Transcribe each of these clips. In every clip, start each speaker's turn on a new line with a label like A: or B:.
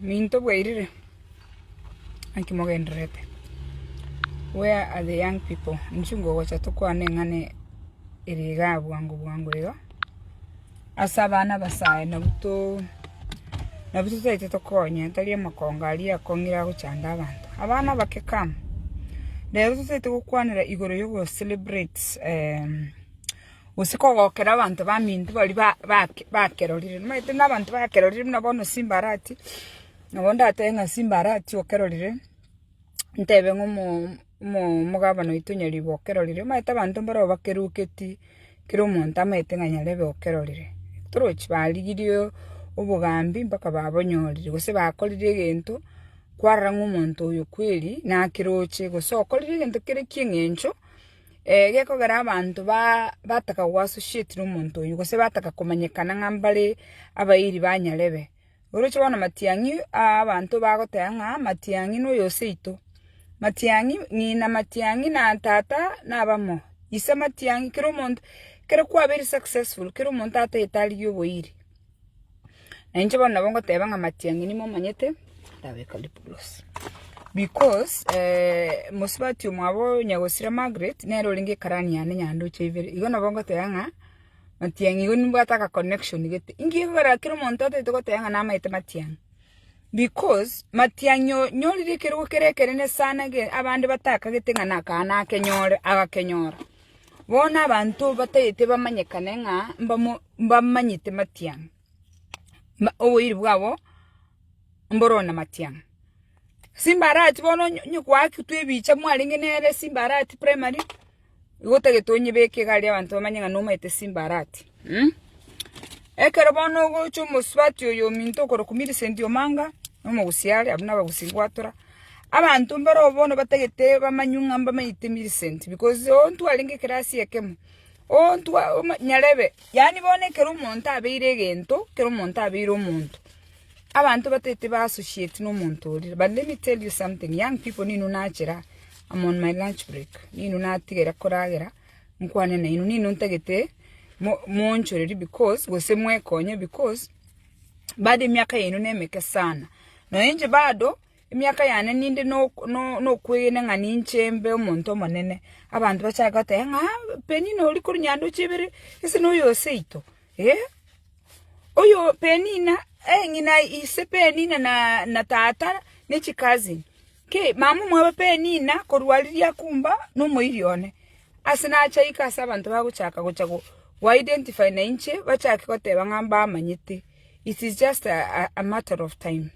A: Minto bwairire, naki mogendererete? Where are the young people? Inchuo ngogocha tokwane eng'ana ere iga bwango bwango iga, ase abana abasae nabwo to nabwo totaete tokonye, tari amakonga aria akong'ira agochanda abanto. Abana abake come, rero totaete gokwanera igoro yogo celebrate gose kogokera abanto baminto baria bakerorire. Nomanyete buna abanto bakerorire buna bono simba arati, nabo ndatebe ng'a simba arati okerorire, ntebe ng'a omogabana oito nyaribo okerorire. Omanyete abanto mbareo bakeruketi, kera omonto amanyete ng'a nyarebe okerorire. Torochi barigirie obogambi mpaka babonyorire, gose bakorire egento, kwarora ng'a omonto oyo kweri nakeroche, gose okorire egento kere ki'eng'encho. Gekogera abanto bataka go associatena omonto oyio, gose bataka komanyekana ng'a mbare abairi ba nyarebe. Oroche bono matiang'i abanto bagoteba ng'a matiang'i noyo oseito, matiang'i ng'ina matiang'i na tata nabamo, ise matiang'i kera omonto, kera kwabeire successful kera omonto atagete arigie oboiri. Na inche bono nabo ngoteba ng'a amatiang'ani momanyete, ndabeka riboros. Because eh, mosubati omwabo nyagosira Margaret, nere orenge ekarani yane nyandoche ibere. Igo nabo ngoteba ng'a, matiang'i igo nimbwate aka connection gete. Inki gekogera kera omonto atagete goteba ng'a namaete matiang'i? Because, matiang'i oo nyorire ekero gokere ekenene sana ge abande batakagete ng'a naka nakenyore, agakenyora. Bono abanto batagete bamanyekane ng'a mbamo. Mbamanyete matiang', na oboiri bwabo mboroo na matiang'. Simbarati bono onye onye kwaaketwe ebicha mwarenge nere simbarati primary, igo otagete onyebeke iga aria abanto bamanye ng'a nomaete simbarati. Ekero bono ogocha omosubati oyo ominto okorokwa Millicent Omanga, na omogusia are, abwo nabagusia ngwatora, abanto mbaroo bono batagete bamanywe ng'a mbamanyete Millicent because ontwarenge ekerasi ekemo, Ontwa nyarebe, yaani bono ekero omonto abeire egento, ekero omonto abeire omonto, abanto batete ba associate nomonto oria. But let me tell you something, young people ninu nachera, am on my lunch break, ninu natigera koragera, nkwane nainwe, ninu ntagete mo- moonchorerie because gose mwekonye because bado emiaka yaino nemeke sana. Naende bado. Emiaka yane ninde nokwegena ng'a ninche mbe omonto omonene, abanto bachake goteba ng'a, Penina oria korwa Nyandoche Ibere, ase noyo oo seito? Ee, oyo Penina, ee ng'ina ise Penina na tata ne chicousin. Ki! Mama omwabo Penina korwa riria akumba nomoiri one. Ase nache aika ase abanto bagochaka gocha go identify nainche bachake goteba ng'a mbamanyete. It is just a matter of time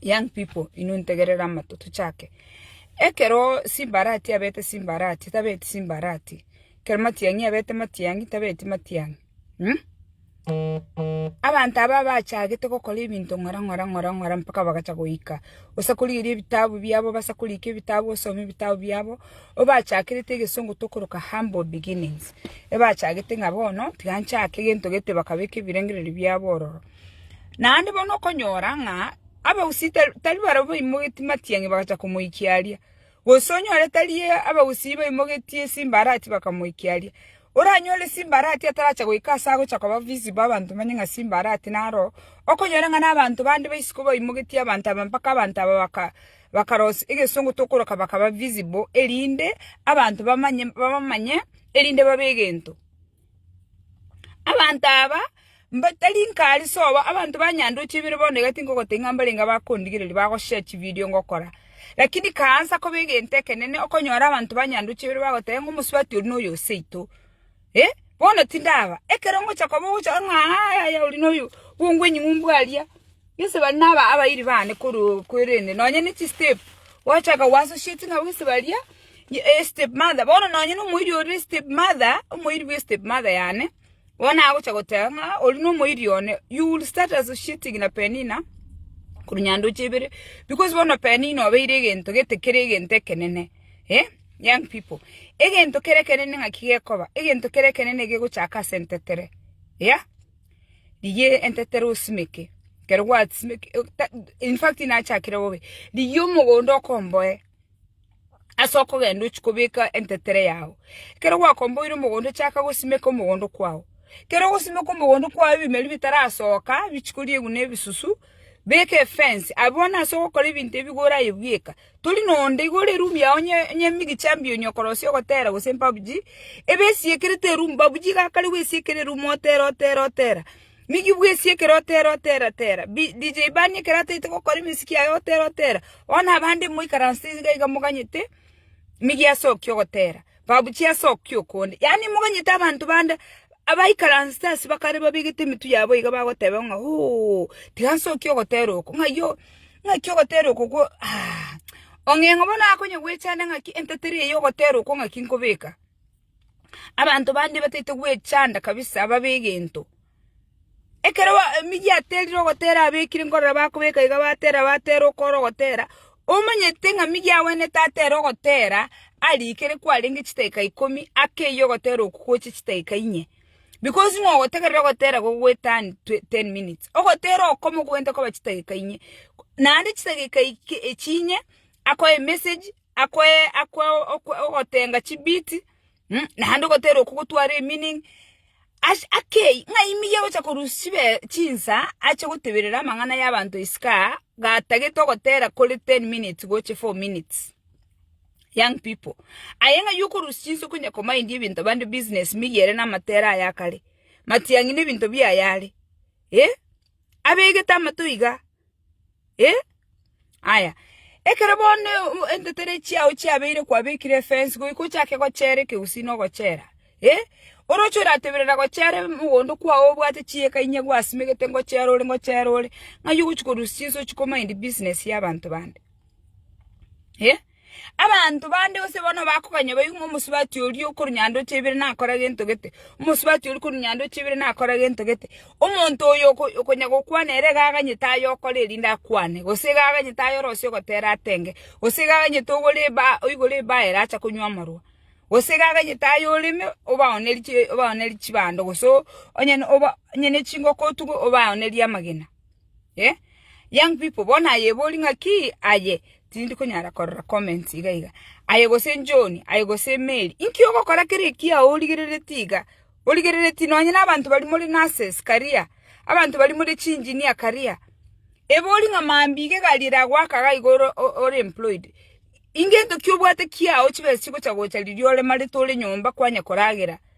A: young people inwe ntegerere amato tochake ekero simbarati abete simbarati tabeti simbarati ekero matiang'i abete matiang'i tabeti matiang'i abanto aba bachagete gokora ebinto ng'ora ng'ora ng'ora ng'ora mpaka bagacha goika gose korigereria ebitabu biabo base korika ebitabu osome ebitabu biabo. Obachakirete egesongo tokoroka humble beginnings, ebachagete ng'a bono tiga nchake gento gete bakabeka ebirengererio biabo ororo. Naende bono okonyora ng'a abagusii tari barabwo baimogetie matiang'i bagacha komoikia aria, gose onyore tari abagusii baimogetie esimbarati bakamoikia aria. Oranyore esimbarati ataracha goika ase agocha koba visible abanto bamanye ng'a simbarati naro, okonyore ng'a nabanto bande isiko baimogetie abanto aba mpaka abanto aba baka Bakarosia egesongo tokoroka bakaba visible erinde abanto bamanye babamanye erinde babe egento. Abanto aba mba tari nkari sobo abanto ba Nyandochi ebere bono iga tinkogotebia ng'a mbarenge abakondigereria bagoshare chividio ngokora. Lakini kaansa koba egento ekenene okonyora abanto ba Nyandochi ebere bagoteba ng'a omosubati oria noyo o seito. Eh, bono tindaba. Ekero ngochia koba ogochora ng'a ayaya oria noyo, bongwe enying'umbu aria, gese baria naba abairi bane koroo kwerende nonye ne chistep, gwachaka gwa associating nabo gese baria estep mother, bono nonye na omoiri oria estep mother, omoiri bwa estep mother yane, bono agochia goteba ng'a ah oria nomoiri one, you will start associating na Penina korwa nyandoche ibere, because bono Penina obeire egento gete kere egento ekenene eh. Young people, egento kere ekenene ng'aki gekoba, egento kere ekenene gegochaka ase entetere, eya, rigia entetere osimeke, ekero gwasimeke in fact nachakire bobe, rigia omogondo okomboe ase okogenda ochia kobeka entetere yago, ekero gwakomboire omogondo chaka gosimeka omogondo kwago, ekero ogosimeka omogondo kwago ebimeri bitarasoka bichia koria egena ebisusu, beka efence, abwo bono ase ogokora ebinto ebi iga oraye bweka. Tori nonde igoro erumbe yao nyemigi chambia onye okorosia ogotera gose empabuchi ebe esiekerete erumbe babuchi iga kare gwesiekera erumbe otera otera otera migi bwesiekere otera otera tera DJ Bani ekero ataete gokora emiziki yaye otera otera bono abande moikaranse iga iga moganyete migi asoki ogotera. Babuchie ase okio okonde, yaani moganyete abanto bande abaikaransete ase bakare babegete emetwe yabo iga bagoteba ng'a, Oo, tiga nse okio ogotera oko, ng'ai ng'aki ogotera oko kwo, aah. Ong'eng'o bono akonya gwechanda ng'aki entetera eye ogotera oko ng'aki nkobeka. Abanto bande bataete gwechanda kabisa ababe egento. Ekero emigia yateerire ogoteera abekire nkorora bakobeka iga bateera bateera okoora ogoteera, omanyete ng'a migia agwenerete atere ogoteera arikere kwarenge chidakika ikomi akeyie ogoteera okwo gocha chidakika inye because ng'a ogotegerera ogoteera gogoeturn ten minutes. Ogoteera oko mokobwenerete koba chidakika inye naende chidakika echio inye akoe emesegi akoe akoe ogotenga chibiti. Naende ogotera okwo gotware emini akei, ng'a ime iye gocha korusia chinsa ache goteberera amang'ana y'abanto isiko aa, gatagete ogotera kore ten minutes gochia four minutes. Young people, aye ng'ai okorusia chinsa okonya komindia ebinto bande business meyie ere namatera aye akare, matiang'i nebinto biaye are, eh, abegete amato iga, Eh? Aya, ekero bono entetere chiao chiabeire kwabekire efensi goika ochake gochera ekegusii na ogochera? Eh? Oroche orateberera gochera mogondo kwao obwate chieka inye gwasimegete ngochera ore ngochera ore, ng'ai ogochia korusia chinsa ochia komind business y'abanto bande? Eh? Abanto bande gose bono bakoganya baigwe ng'a omosubati oria o korwa nyandoche ibere nakora gento gete, omosubati oria korwa nyandoche ibere nakora gento gete. Omonto oyo okonya gokwana ere iga aganyete aye okore erinde akwane, gose iga aganyete aye orosie ogotera atenge, gose iga aganyete ogore ebaa oigore ebaa ere acha konywa amarwa, gose iga aganyete aye oreme obaoneri chi obaoneri chibando gose onye oba onye ne chingoko otuge obaonerie amagena. Eh young people bono aye ebori ng'aki aye tindi konyara korora comments iga iga. Aye gose John aye gose Mary inki ogokora kera ekiya origereretie iga? Origereretie nonye na abanto baria more nurses karia, abanto baria more chi engineer karia. Ebori ng'a mambia egari eragoaka iga igo ore employed. Ingento ki obwate kiao chibesa chigocha gocha riria oremarete ore nyomba kwanya koragera.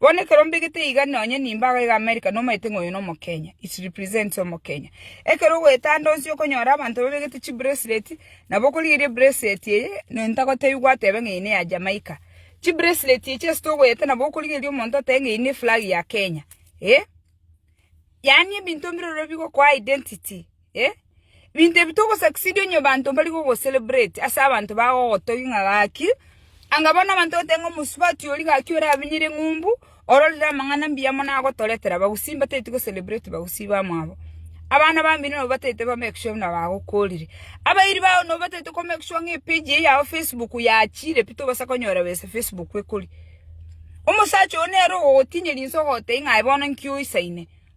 A: Bono ekero mbegete iga nonye nimbe ago iga America nomaete ng'a oyo nomokenya, it represents omokenya. Ekero ogoetanda onsi okonyora abanto babegete chibracelet nabo okorigereria bracelet eye ntagotebi gwatebe ng'a eye neya Jamaica. Chibracelet echi ase togoeta nabo okorigereria omonto otebe ng'a eye neflag ya Kenya eh. Yaani ebinto mbirobiro bigokoa identity. Ebinto ebi togosucceed onye abanto mbari gogocelebrate ase abanto bagogotogia ng'a gaki, anga bono abanto bagoteba ng'a omosubati oria gaki orabinyire ng'umbu ororire amang'ana mbuya mono agotoretera bagusii mbatageti gocelebrate bagusii bamwabo. Abana bambino nabo mbatagete ba make sure buna bagokorire. Abairi bao nabo mbatagete ko make sure ng'a epage eye yao facebook yachire pi tobasa konyora besa facebook ekoria. Omosacha oyo nere ogogotinyia rinse ogogotebi ng'a aye bono nki oisaine.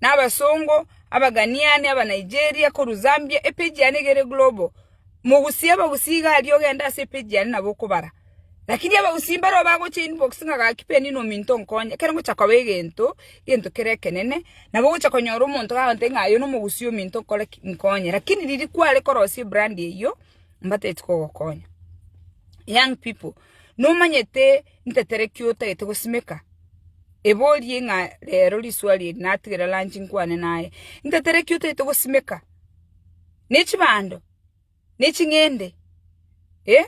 A: nabasongo, Abaghanaiani, Abanigeria, korwa Zambia, epeji yane egere global. Mogusie abagusi iga aria ogende ase epeji yane nabo okobara. Lakini abagusi mbaro bagocha inbox ng'a gaki Penina ominto nkonye, ekero ngocha koba egento, egento kere ekenene, nabo ogocha konyora omonto gagontebia ng'a oyo nomogusi ominto nkore ki? Nkonye. Lakini riria kware korosia ebrand eyio, mbatebeti kogokonya. Young people, nomanyete Ntetereki otagete gosimeka? Eborie ng'a rero riswali eri natigera lanchi nkwane naye. Ntetereki otagete gosimeka? Ne chibando? Ne ching'ende? Eh?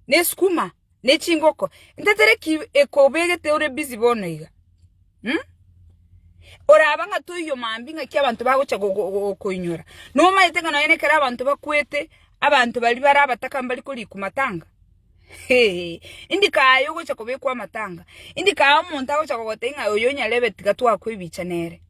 A: Ne sukuma? Ne chingoko? Ntetereki ekobegete ore busy bono iga? Umm? Oraba ng'a toiyo mambi ng'aki abanto bagocha gokoinyora? Nomanyete ng'a nonye nekero abanto bakwete, abanto baria bare abataka mbari koriku matanga? Indi kaye ogocha kobekwa amatanga, indi kaye omonto agocha kogotebia ng'a oyo nyarebe tiga twakwe ebicha nere,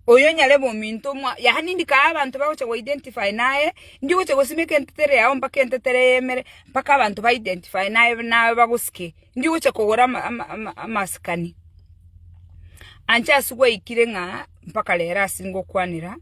A: oyo nyarebe ominto omwa, yaani indi kaye abanto bagocha go identify naye, indi ogocha gosimeka entetere yago mpaka entetere eyemere, mpaka abanto ba identify naye naye bagosike, indi ogocha kogora ama ama ama amasikani. Anche aswe gwaikire ng'a mpaka rero asingokwanera.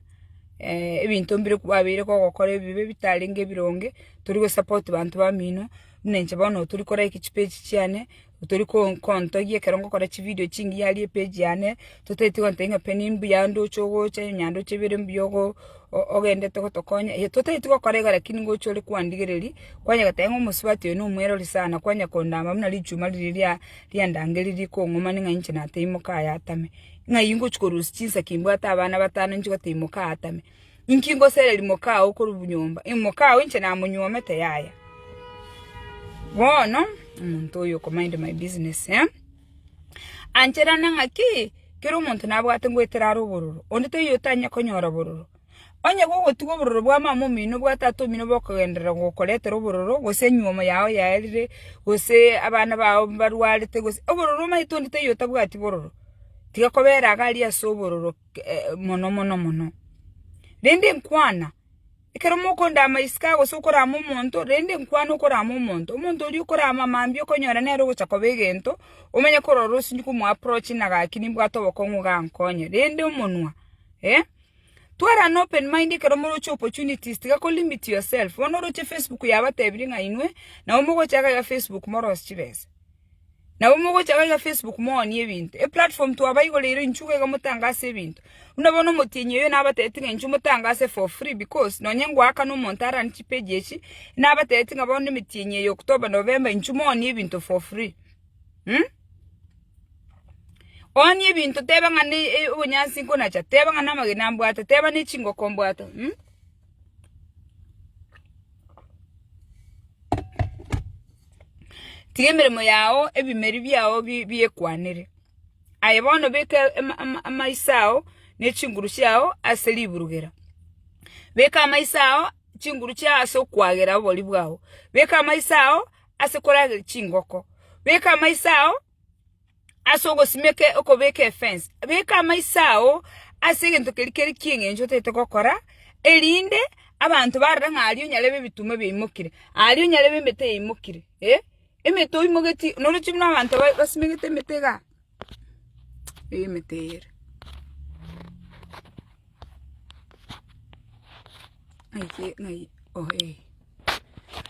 A: ebinto mbire kwabeire kogokora ebibe bitarenge ebironge, tori go support banto bamino, buna inche bono oyo tori ko like chipage chiane, otori ko- kontogia ekero ngokora chividio chingiya aria epage yane, totagete gontebia ng'a pi nimbuya ndoche ogocha, onya ndoche bire mbuya ogo- o- ogendete gotokonya, eh totageti gokora iga lakini ngocha ore kwandigereria, kwanya goteba ng'a omosubati oyo nomwerori sana, kwanya kondama buna richuma riria ria- riandangeririe kong'umani ng'a inche nateimoka aye atame. ng'a iyi ngochia korusia chinsake imbwate abana batano inche goteba imoka aatame. Inki ngosereri moka oo korwa nyomba? Imoka oo inche namonyuomete yaya. Bono omonto oyo oko mind my business eh? Ancherane ng'aki kera omonto nabwate ngoetera are obororo, onde toiyo otanyare konyora obororo. Onye gogotiga obororo bwa mama omino bwa tata omino bokogenderera gokoretera obororo, gose enyuomo yao yaerire, gose abana bao mbarwarete gose, obororo omanyete onde taiyo otabwati bororo, tiga kobera iga aria ase obororo mono mono mono. Rende nkwana, ekero mokondama isiko iga gose okorama omonto, rende nkwana okorama omonto, omonto oria okorama mambia okonyora nere ogocha koba egento, omanye korora osinye komo approach ng'a gaki nimbwate obokong'u iga ankonye, rende omonwa eh. Tware an open mind ekero moroche opportunities tiga ko limit yourself bono oroche Facebook yabatebirie ng'a inwe nabo mogocha iga iga Facebook moros chibesa nabo mogocha iga iga Facebook mooni ebinto eplatform twabaigoreire inchuo iga iga motangase ebinto buna bono omotienyi oyo nabatebitie ng'a inchuo motangase for free because nonye ngoakana omonto arani chipage echi nabatebitie ng'a bono emetienyi eye October November inchuo mooni ebinto for free. Oanie ebinto, teba ng'a obonyansi nkonacha, teba ng'a namagena mbwate, teba ng'a nechingoko mbwate. Tiga emeremo yao ebimeri biao biekwanere. Aye bono beka amaiso ao ne chinguru chiao ase riburugera. Beka amaiso ao chinguru chiao ase okwagera oborio bwao. Beka amaiso ao. ase korageria chingoko, beka amaiso ao ase ogosimeka okobeka efence, beka amaiso ao ase egento keria kere ki'eng'encho otagete gokora, erinde abanto barore ng'a aria onyarebe ebituma biaimokire, aria onyarebe emete yaimokire, eh. Emete oimogetie, noroche buna abanto basimegete emete igaa. Eyi emete eye ere.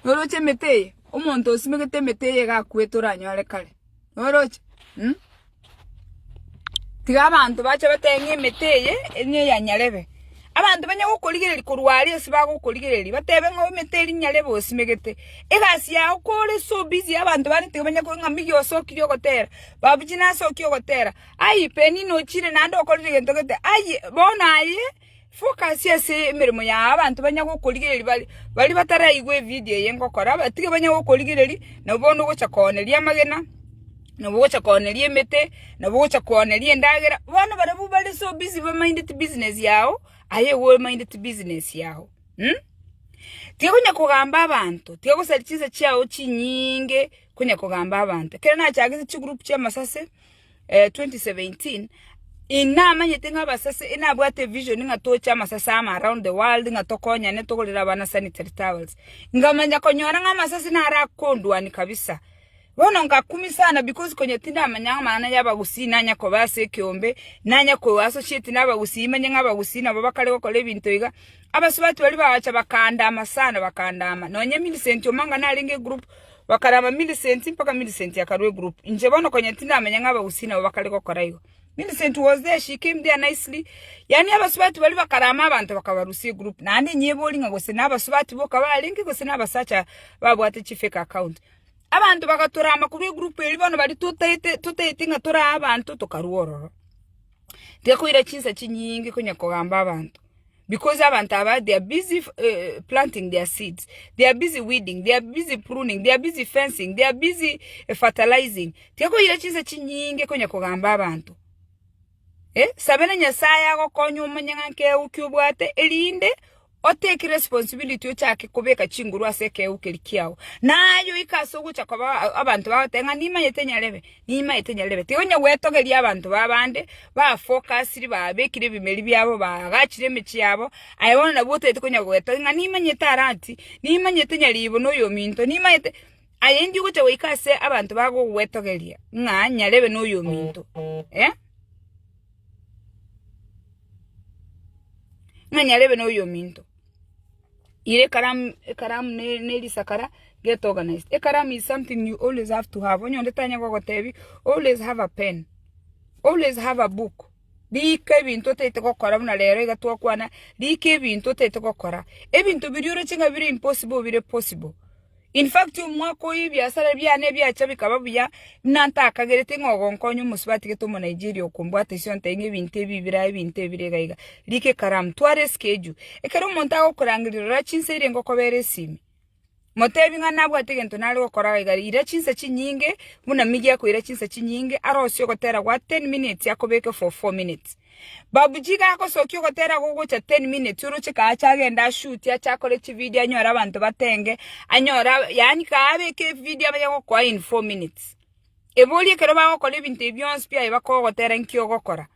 A: Oroche emete eye, omonto osimegete emete eye iga akwete oranyore kare. Oroche? Mh. Tiga abanto bache batebe ng'a emete eye niyo eya Nyarebe. Abanto banye gokorigereria korwa aria ase bagokorigereria, batebe ng'a oimete erinya riabo osimegete. Egasi yao kore so busy abanto bande tiga banya koigwa ng'a mbigie osokire ogotera, babuji nasokie ogotera, ai Penina ochire naende okorire gento gete, ai bono aye focus ase emeremo yao abanto banya gokorigereria bare baria bataraigwe evidio eye ngokora, tiga banye gokorigereria nabo bono ogocha kooneria amagena. nobogocha kooneria emete, nobogocha kooneria endagera, bono barabwo bare so busy ba minded business yao, aye igo o minded business yao um. Tiga onya kogamba abanto, tiga gosaria chinsa chiao chinyinge konya kogamba abanto. Ekero nachagete chigroup chia amasase twenty seventeen, inamanyete ng'a abasase inabwate evision ng'a toche amasase amo around the world ng'a tokonyane togorere abana sanitary towels. Nkamanya konyora ng'a amasase naro akondwania kabisa. Bono ngakumia sana, because konya tindamanya ng'a amang'ana y'abagusii nanye koba ase ekeombe, nanye koigwa ase ochieti nabagusii, manye ng'a abagusii nabo bakare gokora ebinto iga. Abasubati baria bagacha bakandaama sana, bakandaama. Nonye Millicent omo anga narenge egroup, bakaraama Millicent mpaka Millicent akarua egroup. Inche bono konya tindamanya ng'a abagusii nabo bakare gokora igo. Millicent was there, she came there nicely, yaani abasubati baria bakaraama abanto bakabarusia egroup. Naende ninyebori ng'a gose nabasubati boka barenge gose nabasacha babwate chifake account. Abanto bagatorama korwa egurupu eria bono baria totaete ng'a tore abanto tokarua ororo. Tigakoira chinsa chinyinge konya kogamba abanto because abanto aba they are busy planting their seeds, they are busy weeding, they are busy pruning, they are busy fencing, they are busy fertilizing. Tigakoira chinsa chinyinge konya kogamba abanto. Sabera Nyasaye agokonye omonyang'ake euki obwate erinde otake responsibility ochake kobeka chinguru ase ekegeu keria kiao. Na aye oike ase ogocha koba abanto bagoteba ng'a nimanyete nyarebe, nimanyete nyarebe. Tiga onye gwetogeria abanto ba bande ba focusiri babekire ebimeri biabo baagachire emechie yabo aye bono nabo otaete konya gwetogia ng'a nimanyete aranti, nimanyete nyaribo na oyominto, nimanyete. Aye inki ogocha goika ase abanto bagogwetogeria ng'a nyarebe noyominto, eh? Ng'a nyarebe noyominto. Ira ekaramu ekaramu ne nerisakara get organized. Ekaramu is something you always have to have, onye onde tanya gogotebi always have a pen, always have a book, rika ebinto otaete gokora buna rero iga twakwana, rika ebinto otaete gokora. Ebinto biria oroche ng'a bire impossible bire possible. In fact, omwaka oyio ebiasara biane ebiacha bikaba buya, buna ntakagereti ng'a ogonkonya omosubati gete Omonigeria okombwata ise ontebie ng'a ebinto ebi birae ebinto ebi bire iga iga. Rika ekaramu, twara eschedule. Ekero omonto agokorangeria rora chinsa eria ngokobera esimi. Motebie ng'a nabwate egento nare gokora iga iga, ira chinsa chinyinge buna migie akoira chinsa chinyinge, arosie ogotera goa ten minutes akobeke for four minutes. Babuji iga agosokia ogotera gogocha ten minutes oroche kaache agende ashuti ache akore chividio anyore abanto batenge anyore yaani kaabeke evidio abaye gokoa in four minutes. Ebori ekero bagokora ebinto ebi bionsi pi aye bakogotera nki ogokora.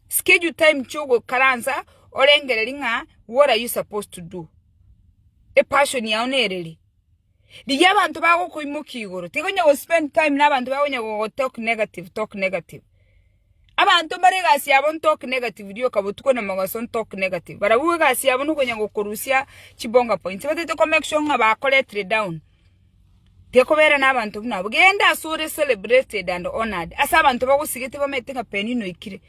A: Schedule time chiogokaransa orengereria ng'a what are you supposed to do? Epassion yao nere ri? Rigia abanto bagokoimokia igoro. Tiga onye gospend time na abanto bakonya gogotalk negative, talk negative. Abanto mbare egasi yabo ntalk negative rioka botuko na mogaso ntalk negative. Barabwo egasi yabo nokonya gokorusia chibonga points. Tibatagete komake sure ng'a bakoletire down. Tiga kobera nabanto buna abwo. Genda asore celebrated and honored. Ase abanto bagosigete bamaete ng'a Peninah oikire.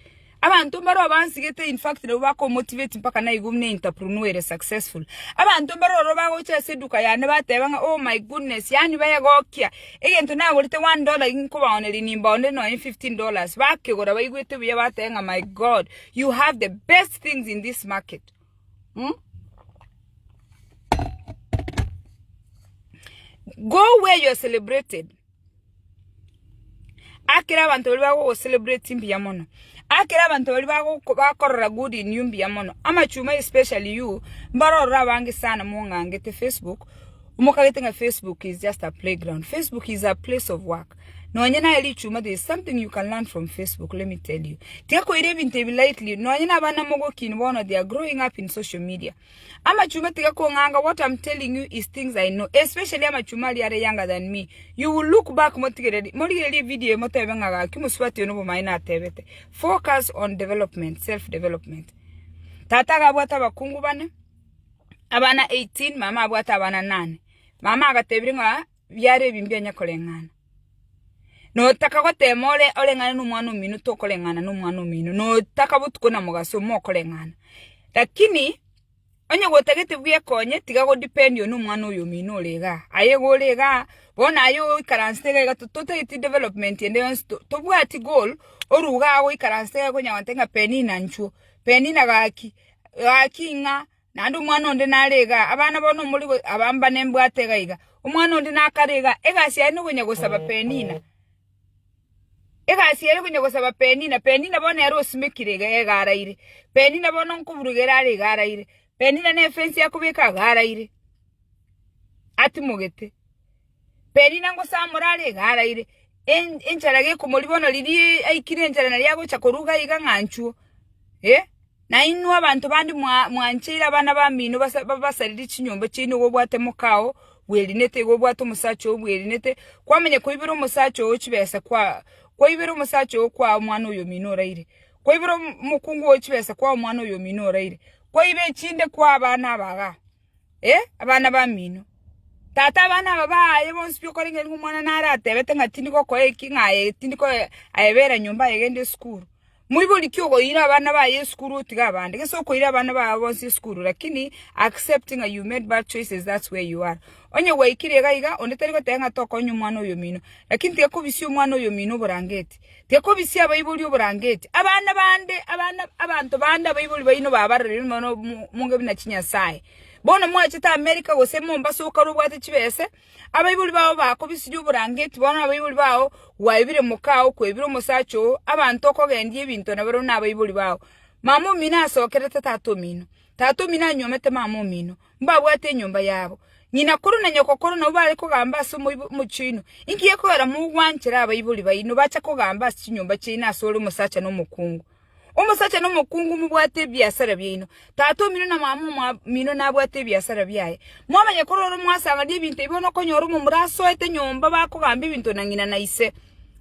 A: Abanto mbaroba bansigete in fact nabwo baka omotivate mpaka naigo buna enterprunuere successful. Abanto mbare ororo bagocha ase eduka yane bateba ng'a oh my goodness yaani begokia egento nagorete one dollar iga nkobaoneria nimbaonere nonya fifteen dollars bakegora baigwete buya bateba ng'a my God you have the best things in this market. Mh? Go where you are celebrated. Akere abanto baria bagogo-celebrati mbuya mono. Akere abanto baria bagogo bakorora good in you mbuya mono. Amachuma especially you, mbaro ororo abange sana mong'angete Facebook, mokagete ng'a Facebook is just a playground. Facebook is a place of work. Nonye naye richuma there is something you can learn from Facebook, let me tell you. Tiga koira ebinto ebi lightly. Nonye na abana mogokini bono they are growing up in social media. Amachumba tiga kong'anga what am telling you is things I know especially amachumba aria are younger than me you will look back motigereri morigererie video eye motebe ng'a gaki mosubati oyo nobomaene atebete focus on development self development Tata iga abwate abakungu bane abana 18 mama abwate abana nane mama agatebirie ng'a biare ebi mbianya koreng'ana. Notaka goteema ore oreng'ane nomwana omino tokoreng'ana nomwana omino, notaka botuko na mogaso mokoreng'ana. Lakini onye gotagete bwekonye tiga godipendio nomwana oyo omino ore igaa. Aye iga ore igaa, bono aye oikaransete iga iga totageti development ende yonsi tobwati goal orugaa goikaransa iga konya gontebia ng'a Penina nchuo, Penina gaki, gaki ng'a. naende omwana onde nare iga, abana bono mori aba mbane mbwate iga iga. Omwana onde nakare iga, egasi yaye nokonya gosaba Penina. Egasi yaye konya gosaba Penina, Penina bono ere osimekire iga iga araire. Penina bono nkoburuka ere are iga araire. Penina ne efensi akobeka iga araire, atimogete. Perina ngosamore are iga araire, enchara gekomoribono riria aikire enchara naria agocha koruga iga ng'a nchuo. Eh, na inwe abanto bande mwancheire abana bamino babasaririe chinyomba chiaino iga obwate moka oo bwerinete, iga obwate omosacha oo bwerinete, kwamanya koibera omosacha oo chibesa kwaibera omosacha oo kwaa omwana oyo omino oraire, kwaibera omokungu oo chibesa kwaa omwana oyo omino oraire, kwaiba echinde kwaa abana aba igaa. Ee, abana bamino. Tata abana aba baaye bonsi biokoreng'ina nigo omwana naratebete ng'a tindi gokoa eki, ng'a aye tindi koyebera nyomba aye egende esukuru. Moibori ki okoira abana baye esukuru otiga abande? Gese okoira abana bao bonsi esukuru lakini accept ng'a you made bad choices that's where you are. Onye gwaikire iga iga, onde tari goteba ng'a tokoonya omwana oyomino. Lakini tiga kobisia omwana oyomino oborangeti. Gekobisia abaibori oborangeti, abana bande, abana, abanto bande abaibori baino babarorire nonya nomonge buna chinyasae. Bono mwachete Amerika gose Mombasa okare obwate chibese, abaibori bao bakobisirie oborangeti, bono abaibori bao gwaebire mokaa okwebire omosacha oo, abanto okogendia ebinto na barabwo nabaibori bao. Mama omino asokerete tata omino, tata omino anywomete mama omino. Mbabwate enyomba yabo. Ng'ina korwa na nyoko korwa nabwo bare kogamba ase omochie oino, Inki gekogera mogwanchera abaibori baino bache kogamba ase chinyomba chiaino ase ore omosacha na omokungu? Omosacha na omokungu mobwate ebiasara biaino. Tata omino na mama omino nabwate ebiasara biaye. Mwamanya korwa ore mwasangania ebinto ebi bono okonyora omomura asoete nyomba bakogamba ebinto na ng'ina na ise.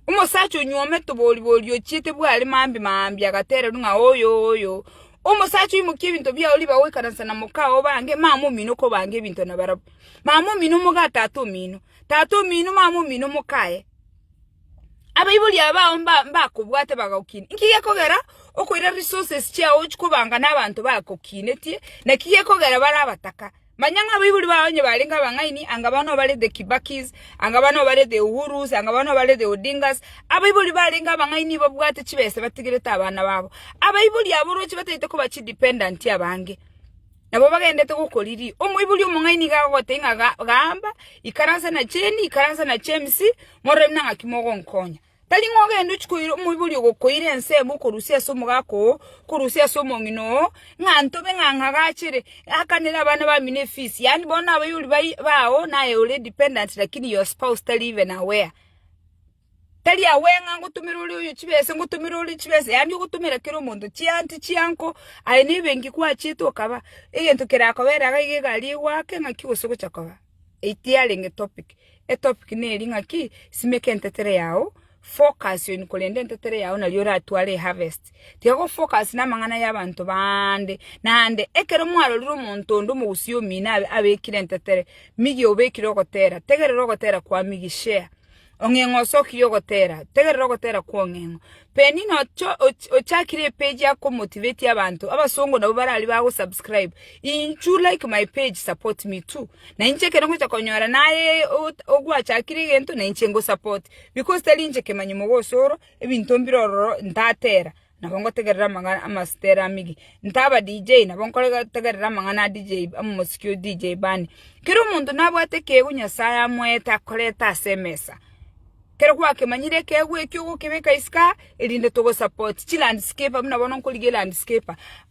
A: Omosacha onyuomete oboribori ochiete bware mambi mambi agatererwa ng'a oyo oyo. Omosacha oimokia ebinto biao riba goikaransa na moka oo bange, mama omino kobanga ebinto na barabwo. Mama omino moga tata omino, tata omino mama omino moka aye. Abaibori abao mba mbakobwate bagagokinia. Inki gekogera okoira resources chiao ochikobanga na abanto bagokinetie, naki gekogera bare abataka. Manya ng'a abaibori bao onye barenge abang'aini, anga bono barete Kibakis, anga bono barete Uhurus, anga bono barete Odingas, abaibori barenge abang'aini babwate chibesa batigerete abana babo. Abaibori abo oroche bataete koba chidependent abange, nabo bagendete gokoriria. Omoibori omong'aini nigo agogotebia ng'a gaamba ikaransa na cheni, ikaransa na James, mororanie nang'aki mogonkonya. Tari ng'a ogende ochie koira omoibori ogokoira ensemo okorusia ase omogaka oo, okorusia ase omong'ina oo, ng'a ntobe ng'a ng'agachere, akanere abana bamino efisi, yaani bono abayori bao naye ore dependent lakini your spouse tari even aware. Tari aware ng'a ngotomera oria oyo chibesa, ngotomera oria chibesa, yaani ogotomera kera omonto chianti chianko, aye nebenki kwachete okaba, egento kerakoba ere iga egari egoake ng'aki gose ogocha koba. Eite yarenge topic. Etopic neri ng'a ki? Simeka entetere yao, focus on korenda entetere yao nario oratware eharvest. Tiga gofocus namang'ana y'abanto baande. Naende, ekero mwarorire omonto onde omogusii omino abekire entetere, migia obekire ogotera, tegerera ogotera kwa migia, share, Ong'eng'o ase okirie ogotera, tegerera ogotera kw'ong'eng'o. Penina ochakire epeji ya komotivate abanto, abasongo nabwo bare aria ba gosubscribe. Inchu like my page support me too. Na inche ekero ngocha konyora naye ogwachakire egento na inche ngosupport. Because tari inche kemanyomogoso oro, ebinto mbire ororo ntatera. nabo ngotegerere amang'ana amasitera amige. Nta aba DJ, nabo nkotegerere amang'ana a DJ, omosiki o DJ Bani. Kera omonto nabwate ekeego Nyasaye amoete akorete ase emesa. Kero gwakemanyire ekeego ekio ogokebeka isiko aa, erinde togo support chilandscaper buna bono nkorigia elandscaper.